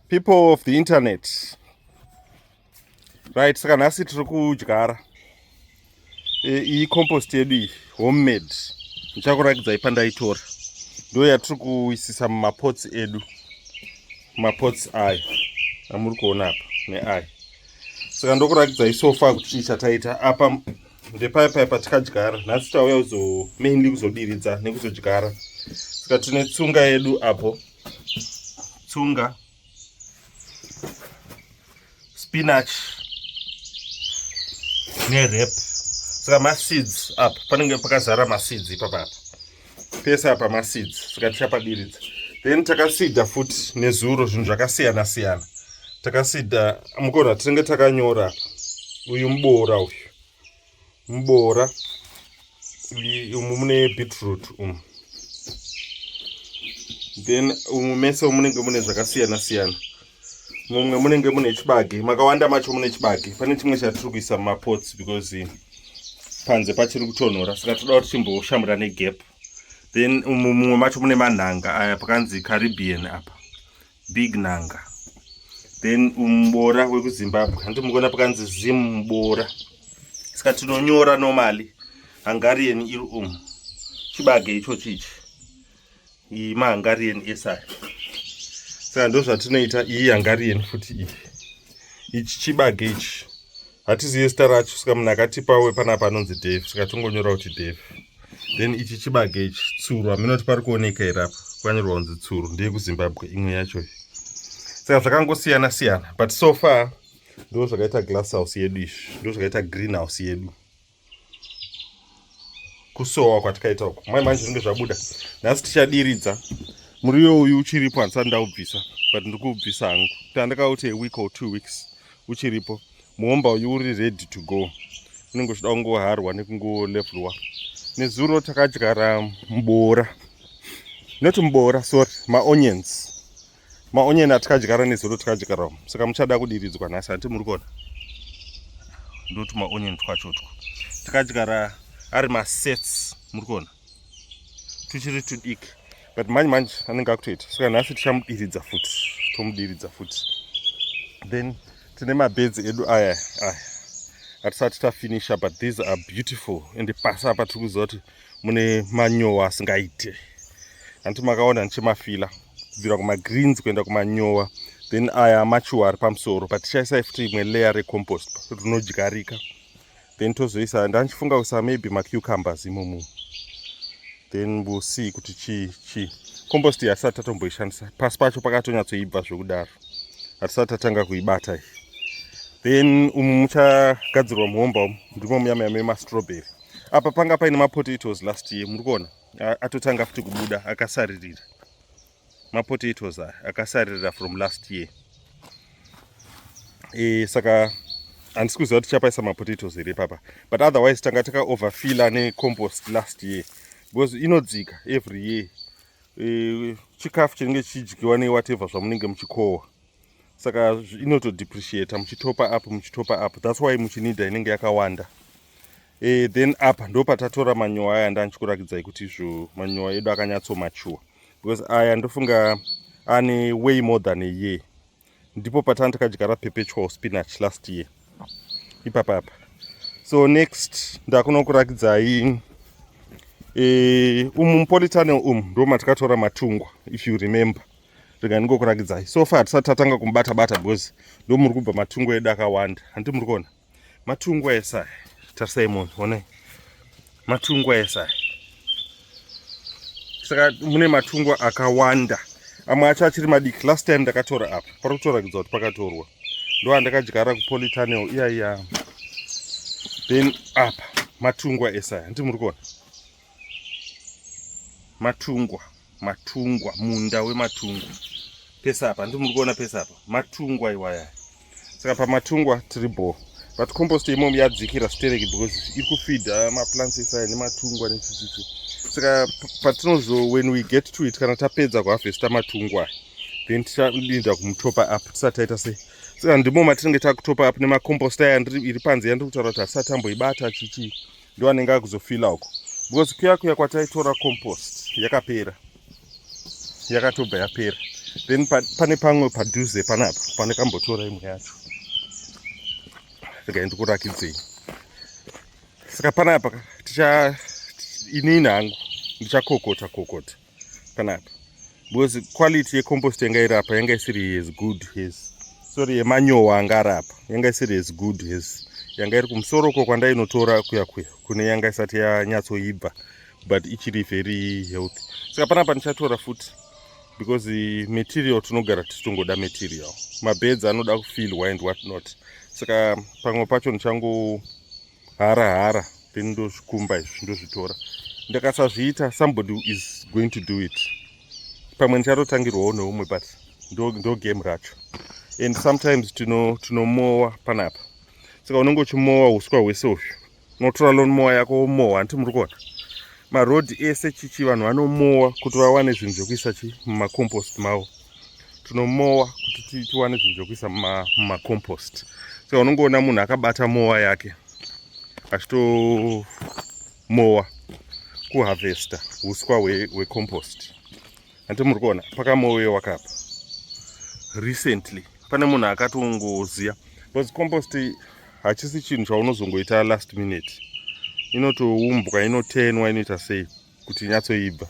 people of the internet right saka nhasi tiri kudyara e, iyi compost yedu iyi homemade ndichakurakidzai pandaitora ndo yatiri kuisisa mumapots edu mapots ayo amuri kuona apa neayo saka ndokurakidzai sofa kuti chii chataita apa ndepaya paya patikadyara nhasi tauya kuzo mainly kuzodiridza nekuzodyara saka tine tsunga yedu apo tsunga spinach nerep saka maseeds apa panenge pakazara maseeds ipapapa pese apa maseeds saka tichapadiridza then takasida futi nezuro zvinhu zvakasiyana siyana takasida mukona tinenge takanyora apa uyu muboora uyu muboora umu mune beetroot umu then umu mese munenge mune zvakasiyana siyana mumwe munenge mune chibage makawanda macho mune chibage pane chimwe chatiri kuisa mumapots because panze pachiri kutonhora saka toda kuti chimboshamura negap then mumwe macho mune manhanga aya pakanzi caribbean apa big nanga then muboora wekuzimbabwe hanti mukuona pakanzi zim muboora saka tinonyora nomali hungarian iri umu chibage ichochi ichi iyi mahangarieni ese aya saka ndo zvatinoita iyi hangarieni futi iyi ichi chibage ichi hatizive zita racho saka munhu akatipa we panapa anonzi dave saka tongonyora kuti dave then ichi chibage ichi tsuru hameno kuti pari kuoneka here apa kwanyorwa kunzi tsuru ndeye kuzimbabwe imwe yacho saka zvakangosiyana siyana but so far ndo zvakaita glass house yedu izvi ndo zvakaita green house yedu kusowa kwatikaita uku mai manje zvinenge zvabuda nhasi tichadiridza muriwo uyu uchiripo handisati ndaubvisa but ndiri kuubvisa hangu kuti andakauti aweek or two weeks uchiripo muhomba uyu uri ready to go unenge uchida kungoharwa nekungolevhurwa nezuro takadyara mboora not mboora sorry maonions maonyeni atikadyara nezuro tikadyarawo saka muchada kudiridzwa nhasi hanti muri kuona ndoti maonyeni twacho two tikadyara ari masets muri kuona tuchiri tudiki but manje manje anenge akutoita saka nhasi tichamudiridza futi tomudiridza futi then tine mabedzi edu aya aya hatisati tafinisha but these are beautiful and pasi apa tiri kuziva kuti mune manyowa asingaite hanti makaona ndichimafila kubvira kumagreens kuenda kumanyowa then aya machuwa ari pamusoro but tichaisai futi imwe layer recompost rinodyarika then tozoisa ndandichifunga kuisa maybe macucumbers imomo then we'll see kuti chii chii compost iyi hatisati tatomboishandisa pasi pacho pakatonyatsoibva zvekudaro hatisati tatanga kuibata iyi then umu muchagadzirwa muhomba umu ndimo muya muya memastroberi apa panga paine mapotatoes last year muri kuona atotanga futi kubuda akasaririra mapotatoes aya akasaririra from last year e, saka handisi kuziva kuti chapaisa mapotatoes here papa but otherwise tanga taka overfiller necompost last year because inodzika every year e, chikafu chinenge chichidyiwa newhatever zvamunenge muchikohwa saka inoto depreciate muchitopa up muchitopa up thats why muchinida inenge yakawanda e, then apa ndo patatora manyowa aya ndandichikuratidzai kuti izvo manyowa edu akanyatso mature because aya ndofunga ane way more than a year ndipo patani takadyara perpetual spinach last year ipapa apa so next ndakunokuratidzai e, umu mupolitane umu ndo matikatora matungwa if you remember rega ndingokurakidzai so far hatisati tatanga kumubata bata because ndo muri kubva matungo edu akawanda handi muri kuona matungo ese aya tarisai munhu onai matungo ese aya saka mune matungo akawanda amwe acho achiri madiki last time ndakatora apa pari kutorakidza kuti pakatorwa ndo andakadyara kupolitanel iyaiya then apa matungo ese aya handi muri kuona matungwa matungwa munda wematungwa pese apa ndi muri kuona pese apa matungwa iwaya saka pamatungwa tiri bho but compost imomo yadzikira stereki because iri kufida maplants esaya nematungwa nechichichi saka patinozo when we get to it kana tapedza kuhavesta matungwa then tichadinda kumutopa up tisati taita sei saka ndimo matinenge takutopa up nemacompost aya iri panze yandiri kutaura kuti hasati amboibata chichii ndiwo anenge akuzofila uko because kuya kuya kwataitora compost yakapera yakatobva yapera then pane pamwe padhuze panapa pane kambotora imwe yacho regai ndikurakidzei saka panapa ticha inini hangu ndichakokota kokota, kokota. panapa because quality yecompost yanga iri apa yanga isiri as good as sorry yemanyowa anga ari apa yanga isiri as good as yanga iri kumusoro uko kwandainotora kuya kuya kune yanga isati yanyatsoibva but ichiri very healthy saka panapa ndichatora futi because material tinogara tichitongoda material mabeds anoda kufilwa and what not saka pamwe pacho ndichango hara hara then ndozvikumba izvi ndozvitora ndakasazviita somebody is going to do it pamwe ndichatotangirwawo neumwe but ndo, ndo game racho and sometimes tinomowa tino panapa saka unenge uchimowa uswa hwese uhyu unotora lonmowa yako womowa hanti muri kuona marodhi ese chichi vanhu vanomowa kuti vawane zvinhu zvekuisa chi mumacompost mavo tinomowa kuti tiwane zvinhu zvekuisa mumacompost so unongoona munhu akabata mowa yake achitomowa kuharvesta uswa hwecompost we hanti muri kuona pakamoweyo wakapa recently pane munhu akatongoziya because compost hachisi chinhu chaunozongoita last minute inotoumbwa inotenwa inoita sei kuti inyatsoibva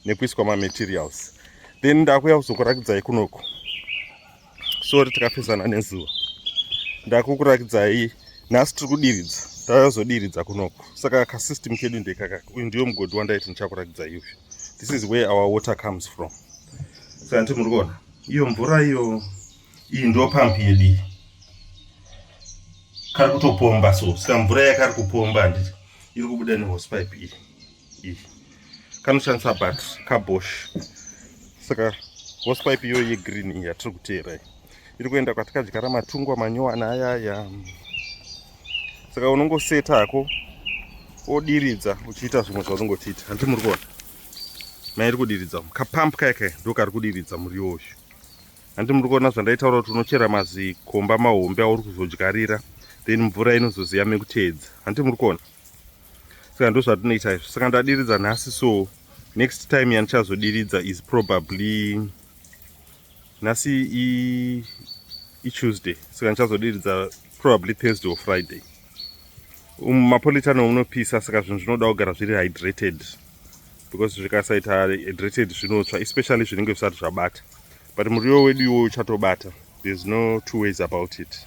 nekuiswa mamaterials then ndakuya kuzokuratidzai kunoko sori tikafesana nezuva ndakukurakidzai nhasi tiri kudiridza tazodiridza kunoko saka kasystem kedu ndekaka uyu ndiyo mugodhi wandaiti ndichakurakidza iuyu this is where our water comes from saka nditi muri kuona iyo mvura iyo iyi ndo pamp yedii kari kutopomba so saka mvura yakari kupomba handiti iri kubuda nehosepipe iyi iyi kanoshandisa bat kabosh saka hosepipe iyoyo yegreen iyi yatiri kuteera iyi iri kuenda kwatikadyara matungwa manyowana ayaya saka unongoseta hako odiridza uchiita zvimwe zvaunongotiita handiti muri kuona mairi kudiridza kapamp kaya kaya ndokari kudiridza muriwo uyu Hanzi muri kuona zvandaitaura kuti unochera mazikomba mahombe auri kuzodyarira then mvura inozoziya mekuteedza hanti muri kuona saka ndo zvatinoita izvo saka ndadiridza nhasi so next time yandichazodiridza is probably nhasi ituesday saka ndichazodiridza probably thursday or friday um, mapolitano unopisa saka zvinhu zvinoda kugara zviri hydrated because zvikasaita hydrated zvinotsva especially zvinenge zvisati zvabata but muriwo wedu iwoyo uchatobata there's no two ways about it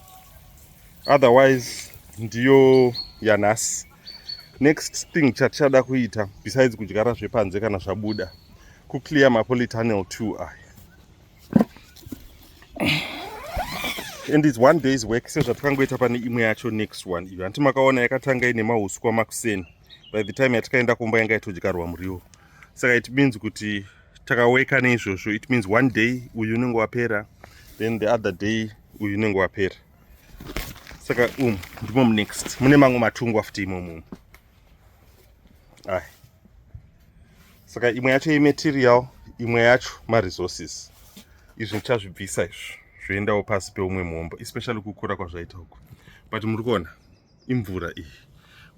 otherwise ndiyo yanhasi next thing chatichada kuita besides kudyara zvepanze kana zvabuda kuclear mapolitanel two aya and its one day's work sezvatikangoita pane imwe yacho next one iyo hanti makaona yakatanga ine mauswa makuseni by the time yatikaenda kumba yanga yatodyarwa muriwo saka it means kuti takaweka neizvozvo it means one day uyu unenge wapera then the other day uyu unenge wapera saka um ndimo munext mune mamwe matungwa futi imomo ai saka imwe yacho imaterial imwe yacho maresources izvi ndichazvibvisa izvi zvoendawo pasi peumwe muombo especially kukura kwazvaita uku but muri kuona imvura iyi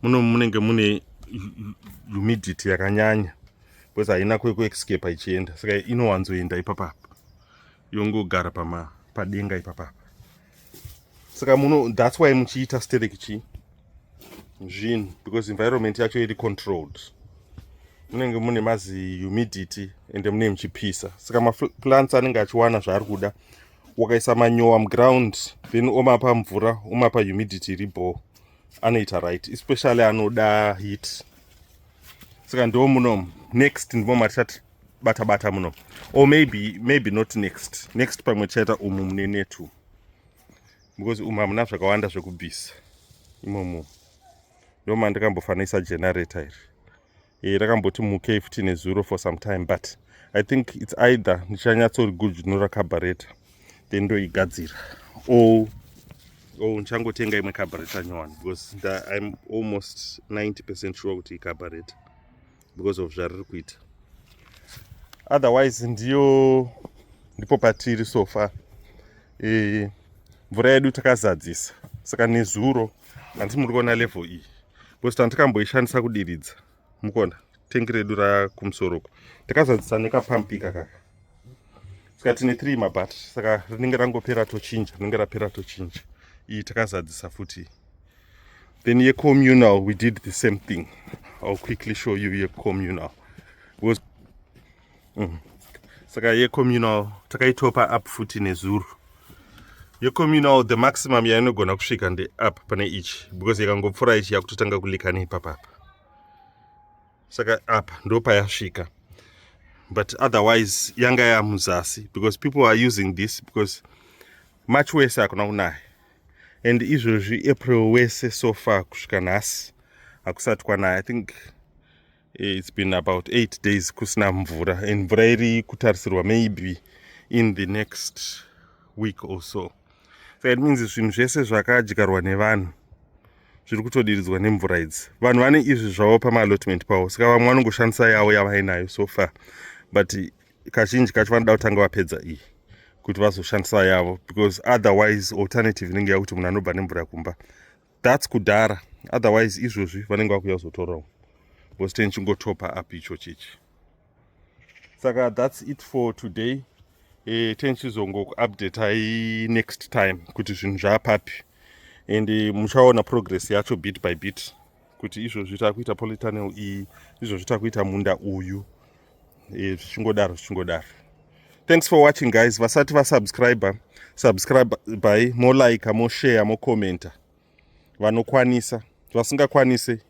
muno munenge mune humidity yakanyanya because haina kwekuexcape ichienda saka inowanzoenda ipapapa yongogara pama padenga ipapapa saka muno that's why muchiita sterek chii zvinhu because environment yacho iri controlled munenge mune mazi humidity ende munenge muchipisa saka maplants anenge achiwana zvaari kuda wakaisa manyowa muground then omapa mvura omapa humidity iri bho anoita right especially anoda heat saka ndo muno next ndimo matisati bata bata muno or maybe maybe not next next pamwe tichaita umu mune netu because umu hamuna zvakawanda zvekubvisa imomo ndoma ndikambofanisa generator iri e, rakamboti mukei futi nezuro for some time but i think its either ndichanyatsorigujunura cabareta then ndoigadzira or or ndichangotenga imwe cabareta nyowani because I'm almost 90 percent sure kuti icabareta because of zvariri kuita otherwise ndiyo ndipo patiri so far e, mvura yedu takazadzisa saka nezuro handisi muri kuona level iyi because tandikamboishandisa kudiridza mukona tengi redu rakumusoro uko takazadzisa nekapampika kaka saka tine three mabattery saka rinenge rangopera tochinja rinenge rapera tochinja iyi takazadzisa futi then yecommunal we did the same thing ill quickly show you yecommunal was mm. saka yecommunal takaitopa up futi nezuro yecommunal the maximum yainogona kusvika ndeap pane ichi because yakangopfura ichi yakutotanga kulikana ipapapa saka apa ndopayasvika but otherwise yanga yamuzasi because people are using this because march wese hakuna kunaya and izvozvi april wese so far kusvika nhasi hakusati kwanaya i think eh, it's been about eight days kusina mvura and mvura iri kutarisirwa maybe in the next week or so saka it means zvinhu zvese zvakadyarwa nevanhu zviri kutodiridzwa nemvura idzi vanhu vane izvi zvavo pamaalotment pavo saka vamwe vanongoshandisa yavo yavainayo so far but kazhinji kacho vanoda kutanga vapedza iyi kuti vazoshandisa yavo because otherwise alternative inenge yakuti munhu anobva nemvura kumba thats kudhara otherwise izvozvi vanenge vakuya kuzotorawo bosteni chingotopa up icho chichi saka thats it for today eh, tenchizongokuupdatai next time kuti zvinhu zvaapapi and eh, muchaona progress yacho bit by bit kuti izvozvi takuita politanel iyi izvozvi takuita munda uyu eh, zvichingodaro zvichingodaro thanks for watching guys vasati vasubscriber subscribe by molike moshare mocommenta vanokwanisa vasingakwanise